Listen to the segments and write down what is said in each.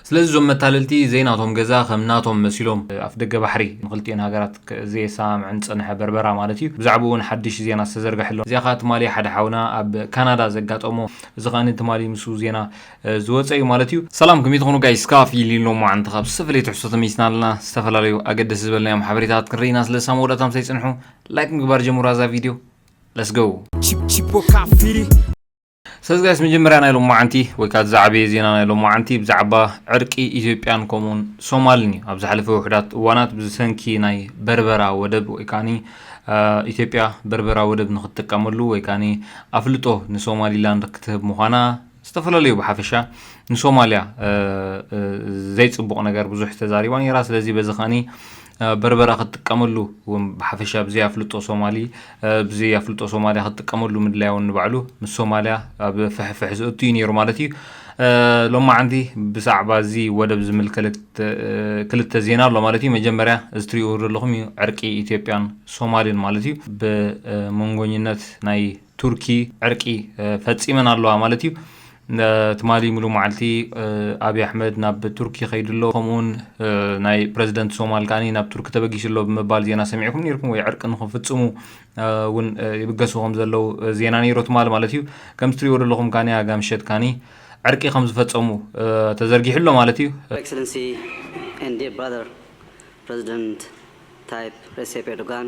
ስለዚ እዞም መታለልቲ ዘይናቶም ገዛ ከም ናቶም መሲሎም ኣፍደገ ባሕሪ ንክልቲኤን ሃገራት ዘየሰማምዐን ዝጸንሐ በርበራ ማለት እዩ ብዛዕብኡ እውን ሓድሽ ዜና ዝተዘርገሐ ኣሎ። እዚኣ ከኣ ትማሊ ሓደ ሓውና ኣብ ካናዳ ዘጋጠሞ እዚ ከኣ ትማሊ ምስኡ ዜና ዝወጸ እዩ ማለት እዩ። ሰላም ከመይ ትኾኑ ጋይስ ካፊ ሊን ሎማዓንቲ ካብ ዝተፈለየ ትሕዝቶ ተመሊስና ኣለና ዝተፈላለዩ ኣገደስቲ ዝበልናዮም ሓበሬታታት ክንርኢ ኢና ስለዚ ሳብ መወዳእታ ምሳይ ጽንሑ ላይክ ምግባር ጀምሩዋ እዛ ቪድዮ Let's go! Chipo Cafiri ሰለዚ ጋይስ መጀመርያ ናይ ሎማዓንቲ ወይ ከኣ ዝዓበየ ዜና ናይ ሎማዓንቲ ብዛዕባ ዕርቂ ኢትዮጵያን ከምኡውን ሶማልን እዩ። ኣብ ዝሓለፈ ውሑዳት እዋናት ብሰንኪ ናይ በርበራ ወደብ ወይ ከኣኒ ኢትዮጵያ በርበራ ወደብ ንክትጥቀመሉ ወይ ከኣኒ ኣፍልጦ ንሶማሊላንድ ክትህብ ምዃና ዝተፈላለዩ ብሓፈሻ ንሶማልያ ዘይጽቡቕ ነገር ብዙሕ ተዛሪባ ነይራ። ስለዚ በዚ ከኣኒ በርበረ ክትጥቀመሉ እውን ብሓፈሻ ብዘይ ኣፍልጦ ሶማሊ ብዘይ ኣፍልጦ ሶማልያ ክትጥቀመሉ ምድላያ እውን ንባዕሉ ምስ ሶማልያ ኣብ ፍሕፍሕ ዝእቱ እዩ ነይሩ ማለት እዩ ሎማዓንቲ ብዛዕባ እዚ ወደብ ዝምልከት ክልተ ዜና ኣሎ ማለት እዩ መጀመርያ እዚ ትሪእዎ ዘለኹም እዩ ዕርቂ ኢትዮጵያን ሶማልን ማለት እዩ ብመንጎኝነት ናይ ቱርኪ ዕርቂ ፈጺመን ኣለዋ ማለት እዩ። ትማሊ ሙሉእ መዓልቲ ኣብዪ ኣሕመድ ናብ ቱርኪ ከይዱ ኣሎ፣ ከምኡውን ናይ ፕረዚደንት ሶማል ከኣ ናብ ቱርኪ ተበጊሱ ኣሎ ብምባል ዜና ሰሚዕኩም ነይርኩም ወይ ዕርቂ ንክፍጽሙ እውን ይብገሱ ከም ዘለዉ ዜና ነይሮ ትማሊ ማለት እዩ። ከምዚ ትሪእዎ ዘለኹም ከኣ ኣጋ ምሸት ከኣ ዕርቂ ከም ዝፈጸሙ ተዘርጊሑ ኣሎ ማለት እዩ። Excellency and dear brother President Tayyip Recep Erdogan፣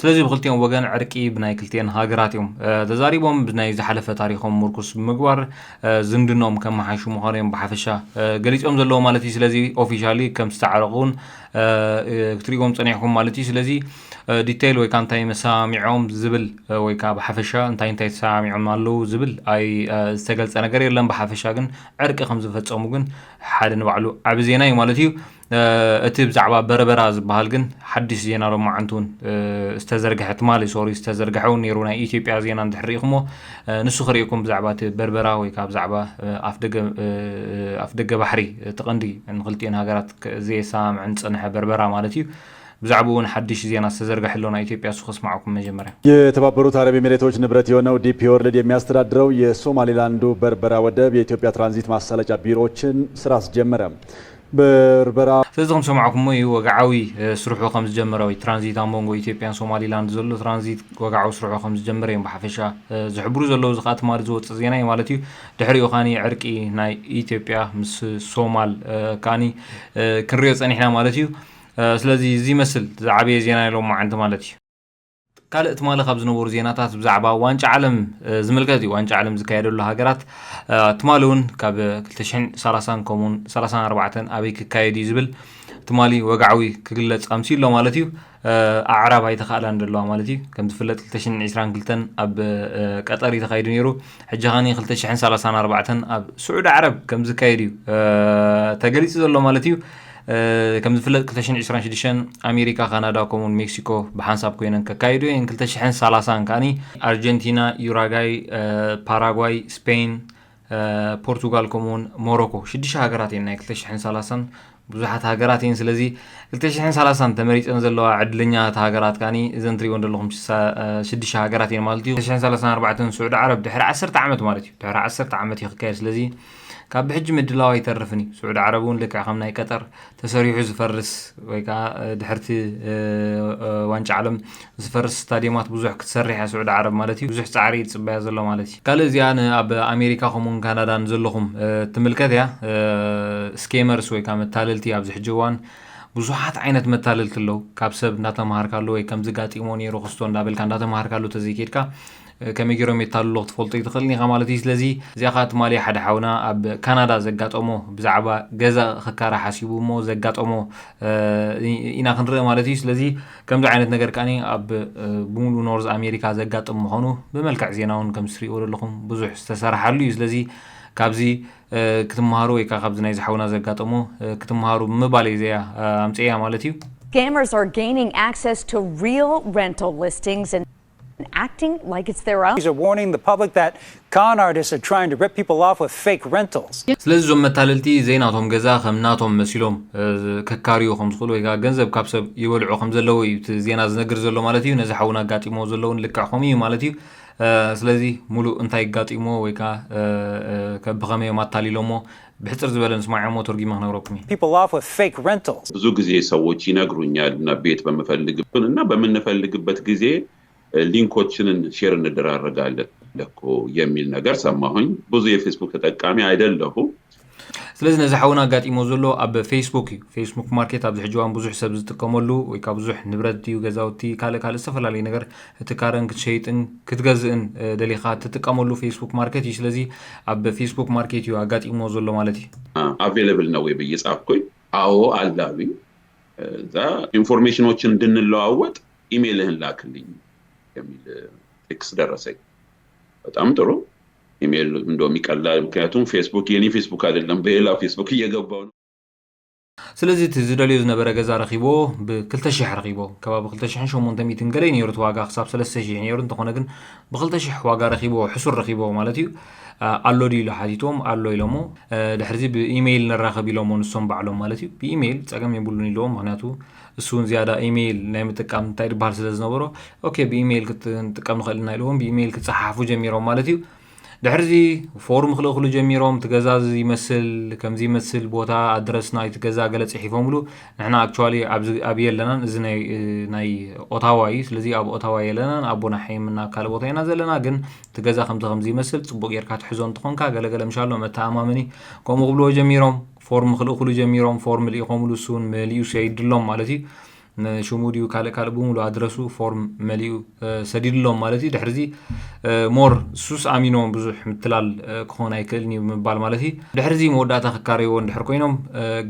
ስለዚ ብክልቲኦም ወገን ዕርቂ ብናይ ክልቲኤን ሃገራት እዮም ተዛሪቦም ብናይ ዝሓለፈ ታሪኮም ምርኩስ ብምግባር ዝምድኖኦም ከመሓይሹ ምዃኑ እዮም ብሓፈሻ ገሊፆም ዘለዉ ማለት እዩ ስለዚ ኦፊሻሊ ከም ዝተዓረቁ እውን ክትሪእዎም ፀኒሕኩም ማለት እዩ ስለዚ ዲተይል ወይከኣ እንታይ መሰማሚዖም ዝብል ወይከኣ ብሓፈሻ እንታይ እንታይ ተሰማሚዖም ኣለዉ ዝብል ኣይ ዝተገልጸ ነገር የለን ብሓፈሻ ግን ዕርቂ ከም ዝፈጸሙ ግን ሓደ ንባዕሉ ዓቢ ዜና እዩ ማለት እዩ እቲ ብዛዕባ በርበራ ዝበሃል ግን ሓድሽ ዜና ሎማዓንቲ እውን ዝተዘርግሐ ትማሊ ሶሪ ዝተዘርግሐ እውን ነይሩ ናይ ኢትዮጵያ ዜና እንድሕሪኢኹሞ ንሱ ክርእኩም ብዛዕባ እቲ በርበራ ወይ ከዓ ብዛዕባ ኣፍደገ ባሕሪ እቲ ቀንዲ ንክልቲኤን ሃገራት ዘየሰማምዐን ዝፀንሐ በርበራ ማለት እዩ ብዛዕብኡ እውን ሓድሽ ዜና ዝተዘርገሐ ኣሎ ናይ ኢትዮጵያ እሱ ከስማዓኩም መጀመርያ። የተባበሩት አረብ ኤሚሬቶች ንብረት የሆነው ዲፒ ወርልድ የሚያስተዳድረው የሶማሌላንዱ በርበራ ወደብ የኢትዮጵያ ትራንዚት ማሳለጫ ቢሮዎችን ስራ አስጀመረ። በርበራ ስለዚ ከም ሰማዕኩሞ ኢዩ ወግዓዊ ስርሑ ከም ዝጀመረ ወይ ትራንዚት ኣብ መንጎ ኢትዮጵያን ሶማሊላንድ ዘሎ ትራንዚት ወግዓዊ ስርሑ ከም ዝጀመረ ኢዮም ብሓፈሻ ዝሕብሩ ዘለዉ እዚ ከኣ ትማሊ ዝወጽእ ዜና ኢዩ ማለት ኢዩ ድሕሪኡ ከኣ ዕርቂ ናይ ኢትዮጵያ ምስ ሶማል ከኣ ክንሪኦ ጸኒሕና ማለት ኢዩ ስለዚ እዚ ይመስል ዝዓበየ ዜና ናይ ሎማዓንቲ ማለት እዩ። ካልእ ትማሊ ካብ ዝነበሩ ዜናታት ብዛዕባ ዋንጫ ዓለም ዝምልከት እዩ። ዋንጫ ዓለም ዝካየደሉ ሃገራት ትማሊ እውን ካብ 230 ከምኡውን 34 ኣበይ ክካየድ እዩ ዝብል ትማሊ ወግዓዊ ክግለጽ ኣምስዩ ኣሎ ማለት እዩ ኣዕራብ ኣይተኸእላን ዘለዋ ማለት እዩ ከም ዝፍለጥ 222 ኣብ ቀጠር እዩ ተኻይዱ ነይሩ ሕጂ ኸኒ 234 ኣብ ስዑድ ዓረብ ከም ዝካየድ እዩ ተገሊጹ ዘሎ ማለት እዩ ከም ዝፍለጥ ክልተ ሽሕን ዕስራን ሽዱሽተን ኣሜሪካ፣ ካናዳ ከምኡውን ሜክሲኮ ብሓንሳብ ኮይነን ከካይዱ እየን። ክልተ ሽሕን ሰላሳን ከኣ ኣርጀንቲና፣ ዩራጋይ፣ ፓራጓይ፣ ስፔን፣ ፖርቱጋል ከምኡውን ሞሮኮ ሽዱሽተ ሃገራት እየን ናይ ክልተ ሽሕን ሰላሳን ብዙሓት ሃገራት እየን። ስለዚ ክልተ ሽሕን ሰላሳን ተመሪፀን ዘለዋ ዕድለኛታት ሃገራት ከኣ እዘን ትሪእወን ዘለኹም ሽዱሽተ ሃገራት እየን ማለት እዩ። ክልተ ሽሕን ሰላሳን ኣርባዕተን ስዑዲ ዓረብ ድሕሪ ዓሰርተ ዓመት ማለት እዩ ድሕሪ ዓሰርተ ዓመት እዩ ክካየድ ስለዚ ካብ ብሕጂ ምድላው ኣይተርፍን እዩ ስዑዲ ዓረብ እውን ልክዕ ከም ናይ ቀጠር ተሰሪሑ ዝፈርስ ወይ ከዓ ድሕርቲ ዋንጫ ዓለም ዝፈርስ ስታዲየማት ብዙሕ ክትሰርሕ እያ ስዑዲ ዓረብ ማለት እዩ ብዙሕ ፃዕሪ ይፅበያ ዘሎ ማለት እዩ ካልእ እዚኣ ንኣብ ኣሜሪካ ከምኡውን ካናዳን ዘለኹም ትምልከት እያ ስኬመርስ ወይ ከዓ መታለልቲ ኣብዚ ሕጂ እዋን ብዙሓት ዓይነት መታለልቲ ኣለዉ ካብ ሰብ እንዳተምሃርካሉ ወይ ከምዚ ጋጢሞ ነይሩ ክስቶ እንዳበልካ እንዳተምሃርካሉ ተዘይከድካ ከመይ ጌሮም የታልሉኽ ትፈልጦ ኣይትኽእልን ኢኻ ማለት እዩ ስለዚ እዚኣ ከኣ ትማሊ ሓደ ሓውና ኣብ ካናዳ ዘጋጠሞ ብዛዕባ ገዛ ክካራ ሓሲቡ እሞ ዘጋጠሞ ኢና ክንርኢ ማለት እዩ ስለዚ ከምዚ ዓይነት ነገር ከኣ ኣብ ብሙሉ ኖርዝ ኣሜሪካ ዘጋጥም ምዃኑ ብመልክዕ ዜና እውን ከም ትሪእዎ ዘለኹም ብዙሕ ዝተሰራሓሉ እዩ ስለዚ ካብዚ ክትምሃሩ ወይ ከዓ ካብዚ ናይ ዝሓውና ዘጋጠሞ ክትምሃሩ ብምባል እዩ ዘያ ኣምፅእያ ማለት እዩ Scammers are gaining access to real rental listings and ስለዚ እዞም መታለልቲ ዘይናቶም ገዛ ከም ናቶም መሲሎም ከካርዩ ከም ዝኽእሉ ወይ ከኣ ገንዘብ ካብ ሰብ ይበልዑ ከም ዘለዉ እዩ እቲ ዜና ዝነግር ዘሎ ማለት እዩ ነዚ ሓውና ኣጋጢምዎ ዘሎ እውን ልክዕ ከምኡ እዩ ማለት እዩ ስለዚ ሙሉእ እንታይ ኣጋጢምዎ ወይ ከኣ ብኸመይ እዮም ኣታሊሎምዎ ብሕጽር ዝበለ ምስ ማይ ዖሞ ተርጉመ ክነግረኩም እየ። people off with fake rentals። ብዙ ጊዜ ሰዎች ይነግሩኛል እና ቤት በምፈልግበት እና በምንፈልግበት ጊዜ ሊንኮችን ሼር እንደራረጋለን እኮ የሚል ነገር ሰማሁኝ ብዙ የፌስቡክ ተጠቃሚ አይደለሁም። ስለዚ ነዚ ሓውና ኣጋጢሞ ዘሎ ኣብ ፌስቡክ እዩ ፌስቡክ ማርኬት ኣብዚ ሕጂ እዋን ብዙሕ ሰብ ዝጥቀመሉ ወይ ከዓ ብዙሕ ንብረት ድዩ ገዛውቲ ካልእ ካልእ ዝተፈላለዩ ነገር እቲ ካረን ክትሸይጥን ክትገዝእን ደሊኻ እትጥቀመሉ ፌስቡክ ማርኬት እዩ። ስለዚ ኣብ ፌስቡክ ማርኬት እዩ ኣጋጢምዎ ዘሎ ማለት እዩ። ኣቬለብል ነው ወይ ብዬ ጻፍኩኝ። አዎ አለ አሉኝ። እዛ ኢንፎርሜሽኖችን እንድንለዋወጥ ኢሜልህን ላክልኝ የሚል ቴክስት ደረሰኝ። በጣም ጥሩ ኢሜል እንደውም ይቀላል፣ ምክንያቱም ፌስቡክ የኔ ፌስቡክ አይደለም በሌላ ፌስቡክ እየገባው ነው። ስለዚ እቲ ዝደልዮ ዝነበረ ገዛ ረኺቦ ብ ክልተ ሽሕ ረኺቦ ከባቢ ክልተ ሽሕን ሸሞንተ ሚእትን ገለ እዩ ነይሩ እቲ ዋጋ ክሳብ ሰለስተ ሽሕ እዩ ነይሩ እንተኾነ ግን ብክልተ ሽሕ ዋጋ ረኺቦ ሕሱር ረኺቦ ማለት እዩ ኣሎ ድዩ ኢሉ ሓቲትዎም ኣሎ ኢሎሞ ድሕርዚ ብኢሜይል ንራኸብ ኢሎሞ ንሶም ባዕሎም ማለት እዩ ብኢሜይል ጸገም የብሉን ኢሎዎም ምክንያቱ እሱ እውን ዝያዳ ኢሜይል ናይ ምጥቃም እንታይ ድበሃል ስለ ዝነበሮ ኦኬ ብኢሜይል ክንጥቀም ንኽእል ኢና ኢሎዎም ብኢሜይል ክጸሓሓፉ ጀሚሮም ማለት እዩ ድሕሪዚ ፎርም ክልእክሉ ጀሚሮም እቲ ገዛ እዚ ይመስል ከምዚ ይመስል ቦታ ኣድረስ ናይቲ ገዛ ገለ ጽሒፎምሉ ንሕና ኣክቹዋሊ ኣብዚ ኣብ የለናን እዚ ናይ ናይ ኦታዋ እዩ ስለዚ ኣብ ኦታዋ የለናን ኣብ ቦናሓይም እና ካልእ ቦታ ኢና ዘለና ግን እቲ ገዛ ከምዚ ከምዚ ይመስል ጽቡቅ ጌርካ ትሕዞ እንትኾንካ ገለ ገለ ምሻሎ መተኣማመኒ ከምኡ ክብልዎ ጀሚሮም ፎርም ክልእክሉ ጀሚሮም ፎርም ልኢኾምሉ እሱውን መሊኡ ሰይድሎም ማለት እዩ ንሽሙ ድዩ ካልእ ካልእ ብምሉ ኣድረሱ ፎርም መሊኡ ሰዲድሎም ማለት እዩ ድሕርዚ ሞር ሱስ ኣሚኖም ብዙሕ ምትላል ክኾን ኣይክእልን እዩ ምባል ማለት እዩ ድሕርዚ መወዳእታ ክካረይዎ እንድሕር ኮይኖም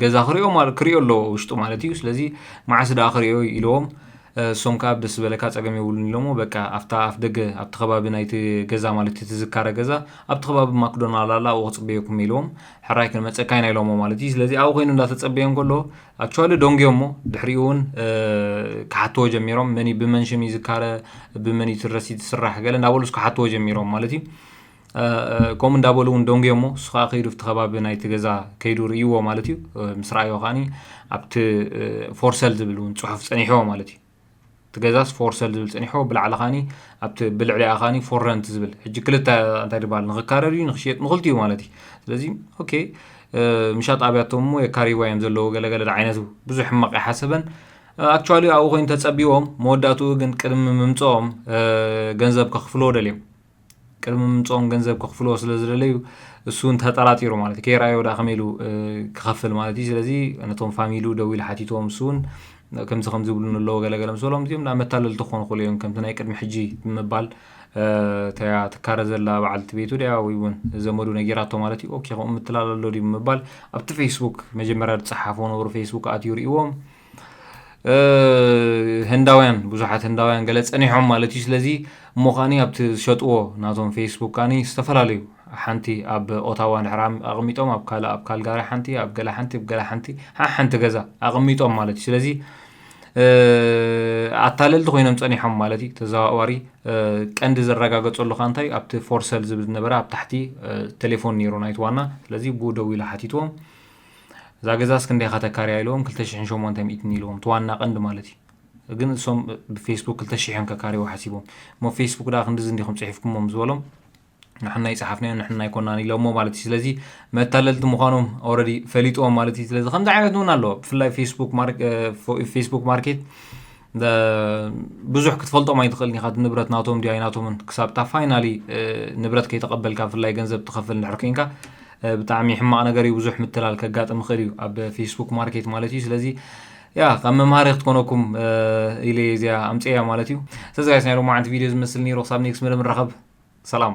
ገዛ ክሪኦ ክሪኦ ኣለዎ ውሽጡ ማለት እዩ ስለዚ መዓስ ደኣ ክሪኦ ኢልዎም እሶም ከዓ ደስ ዝበለካ ፀገም የብሉን ኢሎሞ በቃ ኣብታ ኣፍ ደገ ኣብቲ ከባቢ ናይቲ ገዛ ማለት እቲ ዝካረ ገዛ ኣብቲ ከባቢ ማክዶናል ኣላ ኣብኡ ክፅበየኩም ኢልዎም ሕራይ ክንመፀካ ኢና ኢሎሞ ማለት እዩ ስለዚ ኣብኡ ኮይኑ እንዳተፀበየ እንከሎ ኣክቹዋሊ ደንጉዮም እሞ ድሕሪኡ እውን ክሓትዎ ጀሚሮም መን ብመን ሽም እዩ ዝካረ ብመን እዩ ትረሲ ትስራሕ ገለ እንዳበሉ ስ ክሓትዎ ጀሚሮም ማለት እዩ ከምኡ እንዳበሉ እውን ደንጉዮ እሞ እሱ ከዓ ከይዱ ኣብቲ ከባቢ ናይቲ ገዛ ከይዱ ርእይዎ ማለት እዩ ምስ ረኣዮ ከዓኒ ኣብቲ ፎርሰል ዝብል እውን ፅሑፍ ፀኒሕዎ ማለት እዩ እቲ ገዛስ ፎር ሰል ዝብል ጸኒሖ ብላዕሊ ካኒ ኣብቲ ብልዕሊኣ ካኒ ፎር ረንት ዝብል ሕጂ ክልተ እንታይ ድባል ንክካረር እዩ ንክሽየጥ ንክልቲኡ ማለት እዩ ስለዚ ኦኬ ምሻጥ ኣብያቶም እሞ የካሪዋ እዮም ዘለዎ ገለገለ ዓይነቱ ብዙሕ ሕማቅ ይሓሰበን ኣክቹዋሊ ኣብኡ ኮይኑ ተጸቢዎም መወዳእትኡ ግን ቅድሚ ምምጽኦም ገንዘብ ከኽፍልዎ ደልዮም ቅድሚ ምምጽኦም ገንዘብ ከኽፍልዎ ስለ ዝደለዩ እሱ እውን ተጠራጢሩ ማለት እዩ ከይረኣዮ ዳ ከመይ ኢሉ ክኸፍል ማለት እዩ ስለዚ ነቶም ፋሚሉ ደው ኢሉ ሓቲትዎም እሱ እውን ከምዚ ከምዚ ይብሉኒ ኣለዎ ገለገለ ምስ በሎም እዚኦም ናብ መታለልቲ ክኾኑ ክእሉ እዮም ከምቲ ናይ ቅድሚ ሕጂ ብምባል እታያ ትካረ ዘላ በዓልቲ ቤቱ ድያ ወይ እውን ዘመዱ ነጊራቶ ማለት እዩ ኦኬ ከምኡ ምትላል ኣሎ ድዩ ብምባል ኣብቲ ፌስቡክ መጀመርያ ዝፀሓፎ ነብሩ ፌስቡክ ኣትዩ ርእዎም ህንዳውያን ብዙሓት ህንዳውያን ገለ ጸኒሖም ማለት እዩ ስለዚ እሞ ከዓኒ ኣብቲ ዝሸጥዎ ናቶም ፌስቡክ ከዓኒ ዝተፈላለዩ ሓንቲ ኣብ ኦታዋ ድሕር ኣቕሚጦም ኣብ ካልእ ኣብ ካልጋሪ ሓንቲ ኣብ ገለ ሓንቲ ኣብ ገለ ሓንቲ ሓሓንቲ ገዛ ኣቕሚጦም ማለት እዩ ስለዚ ኣታለልቲ ኮይኖም ጸኒሖም ማለት እዩ ተዘዋዋሪ ቀንዲ ዝረጋገጸሉ ካ እንታይ ኣብቲ ፎርሰል ዝብል ዝነበረ ኣብ ታሕቲ ቴሌፎን ነይሩ ናይቲ ዋና ስለዚ ብኡ ደው ኢሉ ሓቲትዎም እዛ ገዛስ ክንደይ ኢኻ ተካርያ ኢልዎም ክልተ ሽሕን ሸሞንተ ሚእትን ኢልዎም እቲ ዋና ቀንዲ ማለት እዩ ግን እሶም ብፌስቡክ ክልተ ሽሕ እዮም ከካርይዎ ሓሲቦም እሞ ፌስቡክ ድኣ ክንድዚ እንዲኹም ጽሒፍኩሞም ዝበሎም ንሕና ይጽሓፍናዮ ንሕና ኣይኮናን ኢሎሞ ማለት እዩ ስለዚ መታለልቲ ምዃኖም ኦልሬዲ ፈሊጥዎም ማለት እዩ ስለዚ ከምዚ ዓይነት እውን ኣለዎ ብፍላይ ፌስቡክ ማርኬት ብዙሕ ክትፈልጦም ኣይትኽእልን ኢኻ ንብረት ናቶም ድዩ ኣይናቶምን ክሳብ እታ ፋይናሊ ንብረት ከይተቐበልካ ብፍላይ ገንዘብ ትኸፍል እንድሕር ኮንካ ብጣዕሚ ሕማቕ ነገር እዩ ብዙሕ ምትላል ከጋጥም ይኽእል እዩ ኣብ ፌስቡክ ማርኬት ማለት እዩ ስለዚ ያ ከም መምሃሪ ክትኮነኩም ኢለ እዚኣ ኣምፅያ ማለት እዩ ስለዚ ጋይስ ናይ ሎማዓንቲ ቪድዮ ዝመስል ነይሩ ክሳብ ኔክስ መደብ ንራኸብ ሰላም